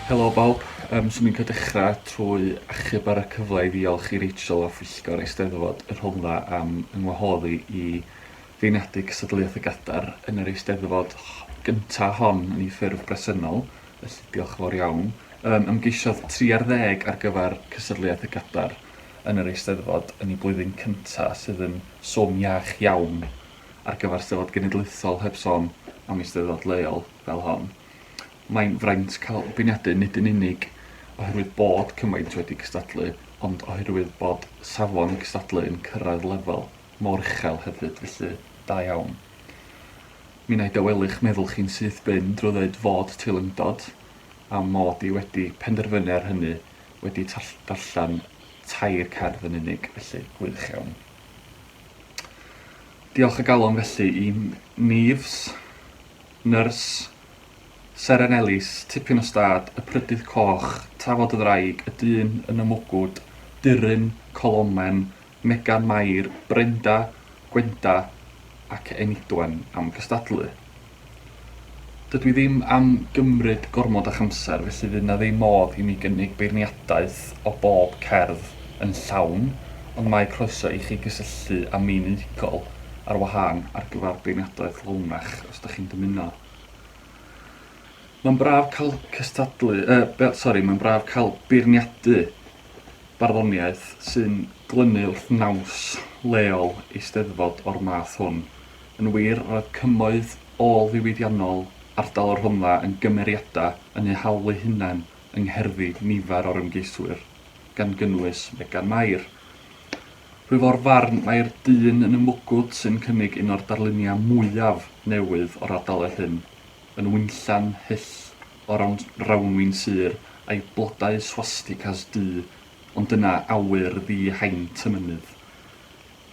Helo bawb, yym 'swn i'n licio dechra trwy achub ar y cyfle i ddiolch i Rachel a phwyllgor Eisteddfod y Rhondda am yng ngwahodd i i feirniadu cystadleuaeth y Gadar yn yr Eisteddfod gynta hon yn ei ffurf bresennol, felly diolch yn fawr iawn. Yym ymgeisiodd tri ar ddeg ar gyfer cystadleuaeth y Gadar. yn yr Eisteddfod yn y blwyddyn cyntaf sydd yn swm iach iawn ar gyfer Steddfod Genedlaethol heb sôn am Eisteddfod leol fel hon. Mae'n fraint cael beirniadu nid yn unig oherwydd bod cymaint wedi cystadlu ond oherwydd bod safon y cystadlu yn cyrraedd lefel mor uchel hefyd felly da iawn. Mi wna i dawelu'ch meddwl chi'n syth bin drwy ddeud fod teilyngdod, a mod i wedi penderfynu ar hynny, wedi darllen tair cerdd yn unig felly, gwych iawn. Diolch o galon felly i Neves, Nyrs, Seren Elis, Tipyn o Stad, Y Prydydd Coch, Tafod y Ddraig, Y Dyn yn y Mwgwd, Durin, Colomen, Megan Mair, Brenda, Gwenda ac Enidwen am gystadlu. Dydw i ddim am gymryd gormod o'ch amser, felly fydd 'na ddim modd i mi gynnig beirniadaeth o bob cerdd yn llawn, ond mae croeso i chi gysylltu â mi'n unigol ar wahân ar gyfer beirniadaeth lawnach os 'da chi'n dymuno. Mae'n braf cael cystadlu, yy, sori, mae'n braf cael beirniadu barddoniaeth sy'n glynu wrth naws leol Eisteddfod o'r math hwn. Yn wir, roedd cymoedd ôl-ddiwydiannol ardal y Rhondda yn gymeriadau yn eu hawl eu hunain yng ngherddi nifer o'r ymgeiswyr, gan gynnwys Megan Mair. Rwyf o'r farn mai'r dyn yn y mwgwd sy'n cynnig un o'r darluniau mwyaf newydd o'r ardaloedd hyn, yn winllan hyll o rawnwin sur a'i blodau swasticas du, ond dyna awyr ddi-haint y mynydd.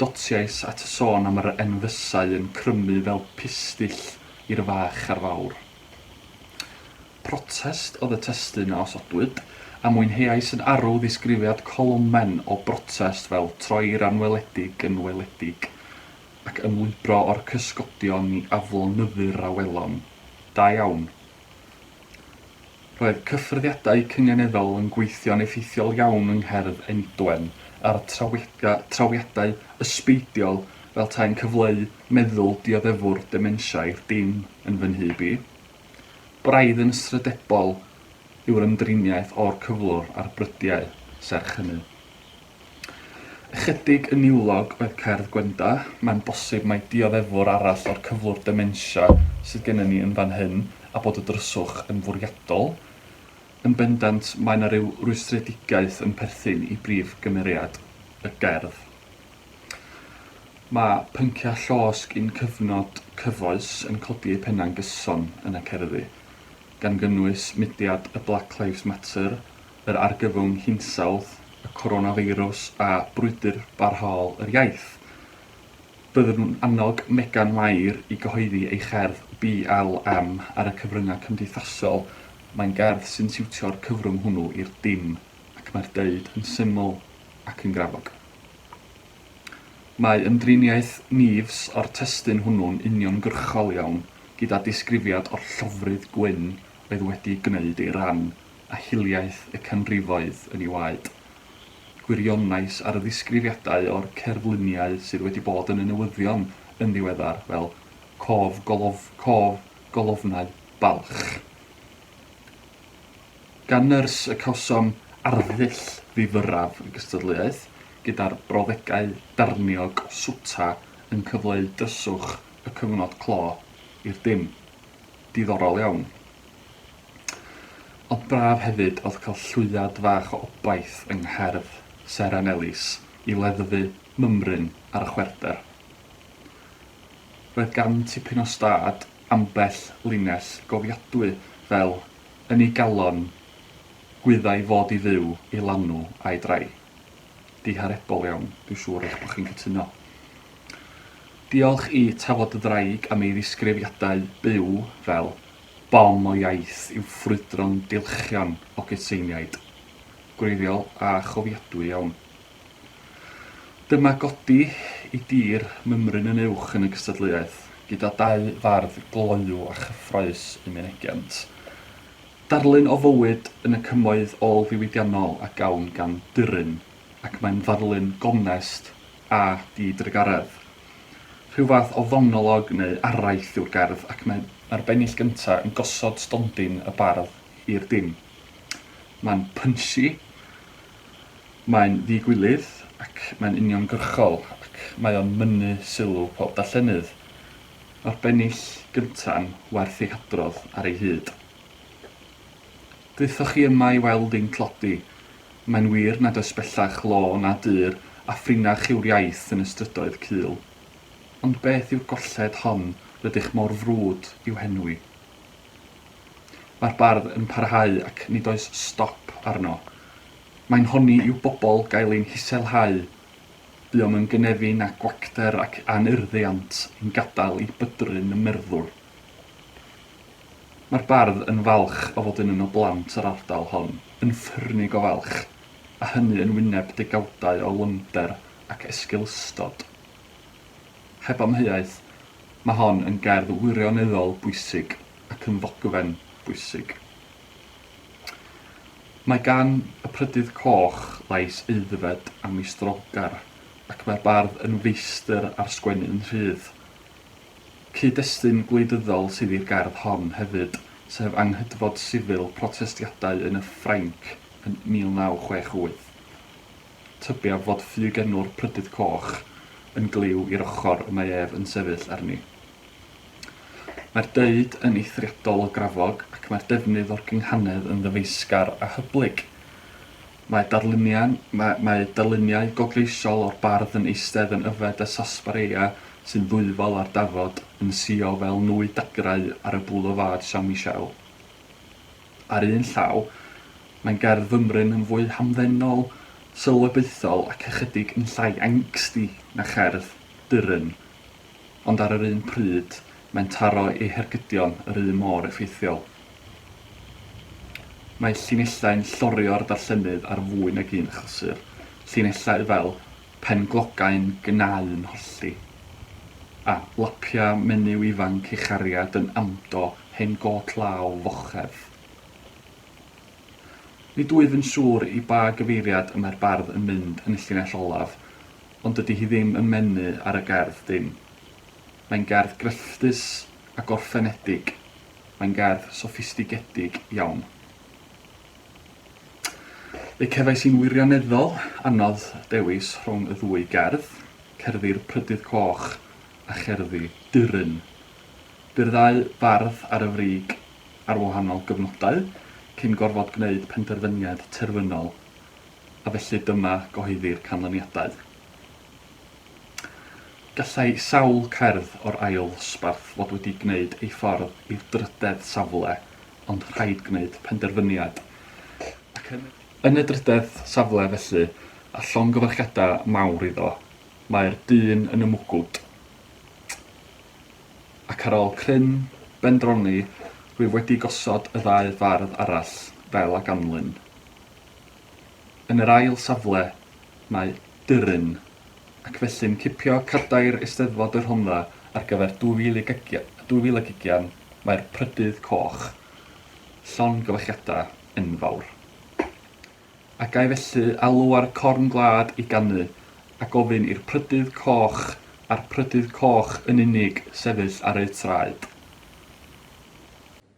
Dotiais at y sôn am yr enfysau yn crymu fel pistyll i'r fach a'r fawr. Protest oedd y testun a osodwyd, a mwynheais yn arw ddisgrifiad colomen o brotest fel troi'r anweledig yn weledig, ac ymlwybro o'r cysgodion i aflonyddu'r awelon. Da iawn. Roedd cyffyrddiadau cynganeddol yn gweithio'n effeithiol iawn yng Ngherdd Einidwen ar trawiadau ysbeidiol fel tai'n cyfleu meddwl dioddefwr dementia i'r dim yn fy nhyb i. Braidd yn ysrydebol yw'r ymdriniaeth o'r cyflwr a'r brydiau, serch hynny. Ychydig yn niwlog oedd cerdd Gwenda, mae'n bosib mai dioddefwr arall o'r cyflwr dementia sydd gennym ni yn fan hyn, a bod y dryswch yn fwriadol. Yn bendant, mae 'na ryw rwystredigaeth yn perthyn i brif gymeriad y gerdd. Mae pynciau llosg un cyfnod cyfoes yn codi eu pennau'n gyson yn y cerddi, gan gynnwys mudiad y Black Lives Matter, yr argyfwng hinsawdd, y coronafeirws a brwydr barhaol yr iaith. Byddwn yn annog Megan Mair i gyhoeddi ei cherdd BLM ar y cyfryngau cymdeithasol, mae'n gerdd sy'n siwtio'r cyfrwng hwnnw i'r dim ac mae'r deud yn syml ac yn grafog. Mae ymdriniaeth Neves o'r testun hwnnw'n uniongyrchol iawn, gyda disgrifiad o'r llofrudd gwyn oedd wedi gwneud ei ran a hiliaeth y canrifoedd yn ei waed. Gwirionais ar y ddisgrifiadau o'r cerfluniau sydd wedi bod yn y newyddion yn ddiweddar fel 'cof golof, cof golofnau balch'. Gan nyrs y cawsom arddull ddifyrraf y gystadleuaeth, gyda'r brawddegau darniog o swta yn cyfleu dryswch y cyfnod clo i'r dim. Diddorol iawn. Ond braf hefyd oedd cael llwyad fach o obaith yng ngherdd Seren Elis i leddfu mymryn ar y chwerwder. Roedd gan tipyn o stad ambell linell gofiadwy fel yn ei galon gwyddai fod i fyw i lanw a'i drai. Diharebol iawn, dwi'n siŵr eich bod chi'n cytuno. Diolch i Tafod y Ddraig am ei ddisgrifiadau byw fel bom o iaith i'w ffrwydro'n dilchion o gytseiniaid. Gwreiddiol a chofiadwy iawn. Dyma godi i dir mymryn yn uwch yn y gystadleuaeth, gyda dau fardd gloyw a chyffrous yn mynegiant darlun o fywyd yn y cymoedd ôl-ddiwydiannol a gawn gan Duryn, ac mae'n ddarlun gonest a di-drugaredd. Rhyw fath o fonolog neu araith yw'r gerdd ac mae mae'r bennill gyntaf yn gosod stondin y bardd i'r dim. Mae'n punchy, mae'n ddi-gwilydd ac mae'n uniongyrchol ac mae o'n mynnu sylw pob darllenydd. Mae'r bennill gynta'n werth ei hadrodd ar ei hyd. Ddaethoch chi yma i weld ein tlodi. Mae'n wir nad oes bellach law na dur a phrinach yw'r iaith yn y strydoedd cul. Ond beth yw'r golled hon rydych mor frwd i'w henwi? Mae'r bardd yn parhau ac nid oes stop arno. Mae'n honni i'w bobl gael ein hiselhau. Buom yn gynefin a gwacter ac anurddiant yn gadael i bydrun y merddwr. Mae'r bardd yn falch o fod yn un o blant yr ardal hon, yn ffyrnig o falch, a hynny yn wyneb degawdau o lymder ac esgeulustod. Heb amheuaeth, mae hon yn gerdd wirioneddol bwysig ac yn ddogfen bwysig. Mae gan y Prydydd Coch lais aeddfed a meistrawgar, ac mae'r bardd yn feistr ar sgwennu yn rhydd. Cyd-destun gwleidyddol sydd i'r gerdd hon hefyd, sef anghydfod sifil protestiadau yn y Ffrainc yn 1968. Tybiaf fod ffug enw'r Prydydd Coch yn glyw i'r ochr y mae ef yn sefyll arni. Mae'r deud yn eithriadol o grafog ac mae'r defnydd o'r gynghanedd yn ddyfeisgar a hyblyg. Mae darluniau, mae, mae darluniau gogleisiol o'r bardd yn eistedd yn yfed y sarsaparilla sy'n ddwyfol ar dafod, yn suo fel nwy dagrau ar y Boulevard Saint-Michel. Ar un llaw, mae'n gerdd fymryn yn fwy hamddenol, sylwebaethol ac ychydig yn llai angsty na cherdd Dürren, ond ar yr un pryd, mae'n taro ei hergydion yr un mor effeithiol. Mae llinellau'n llorio'r darllenydd ar fwy nag un achlysur, llinellau fel 'Penglogau'n gnau'n hollti' a 'Lapia' menyw ifanc ei chariad yn amdo hen gôt law fochedd. Nid wyf yn siŵr i ba gyfeiriad y mae'r bardd yn mynd yn y llinell olaf, ond dydy hi ddim yn mynnu ar y gerdd dim. Mae'n gerdd grefftus a gorffenedig. Mae'n gerdd soffistigedig iawn. Fe cefais i'n wirioneddol anodd dewis rhwng y ddwy gerdd, Cerddi'r Prydydd Coch a Cherddi Dyryn. Bu'r ddau fardd ar y frig ar wahanol gyfnodau, cyn gorfod gwneud penderfyniad terfynol, a felly dyma gyhoeddi'r canlyniadau. Gallai sawl cerdd o'r ail ddosbarth fod wedi gwneud ei ffordd i'r drydedd safle ond rhaid gwneud penderfyniad ac yn y Yn y drydedd safle felly, a llongyfarchiadau mawr iddo, mae'r dyn yn y mwgwd. Ac ar ôl cryn bendroni rwyf wedi gosod y ddau fardd arall fel a ganlyn. Yn yr ail safle mae Dyryn, ac felly'n cipio cadair Eisteddfod y Rhondda ar gyfer 2000 ag ugian, mae'r Prydydd Coch, llongyfarchiadau enfawr. A ga-i felly alw ar Corn Gwlad i ganu, a gofyn i'r Prydydd Coch, a'r Prydydd Coch yn unig, sefyll ar eu traed.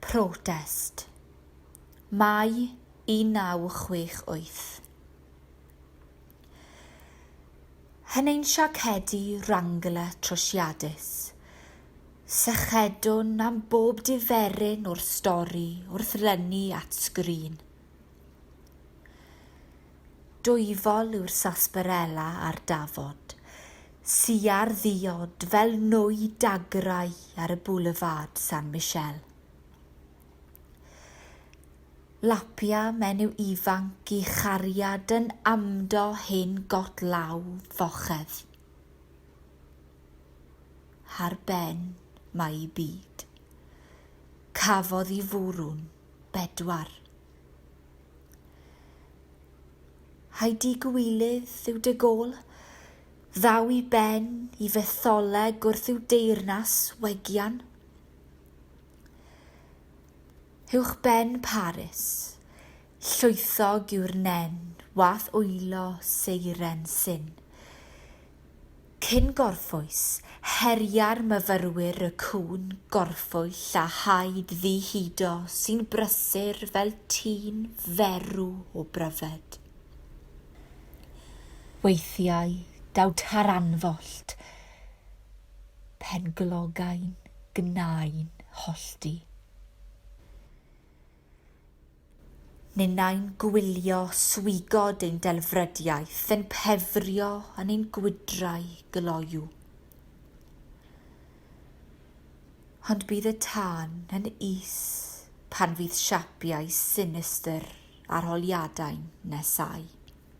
Protest, Mai 1968. Hyn ein siacedi Wrangler trwsiadus, sychedwn am bob diferyn o'r stori wrth lynu at sgrin. Dwyfol yw'r sarsaparella a'r dafod, siar ddiod fel nwy dagrau ar y Boulevard San Michel. Lapia menyw ifanc i chariad yn amdo hen got law fochedd. Ar ben mae i byd. Cafodd i fwrw'n 4. Heidi Gwylydd yw De Gaulle, ddaw i ben i fetholeg wrth i'w deyrnas wegian uwchben Paris llwythog yw'r nen wath wylo seiren syn Cyn gorffwys, heria'r myfyrwyr y cŵn gorffwyll a haid ddi-hudo sy'n brysur fel tîn ferw o bryfed. Weithiau daw taranfollt pen glogau'n gnau'n hollti. Ninnau'n gwylio swigod ein delfrydiaeth yn pefrio yn ein gwydrau gloyw. Ond bydd y tân yn is pan fydd siapiau sinistr arholiadau'n nesáu.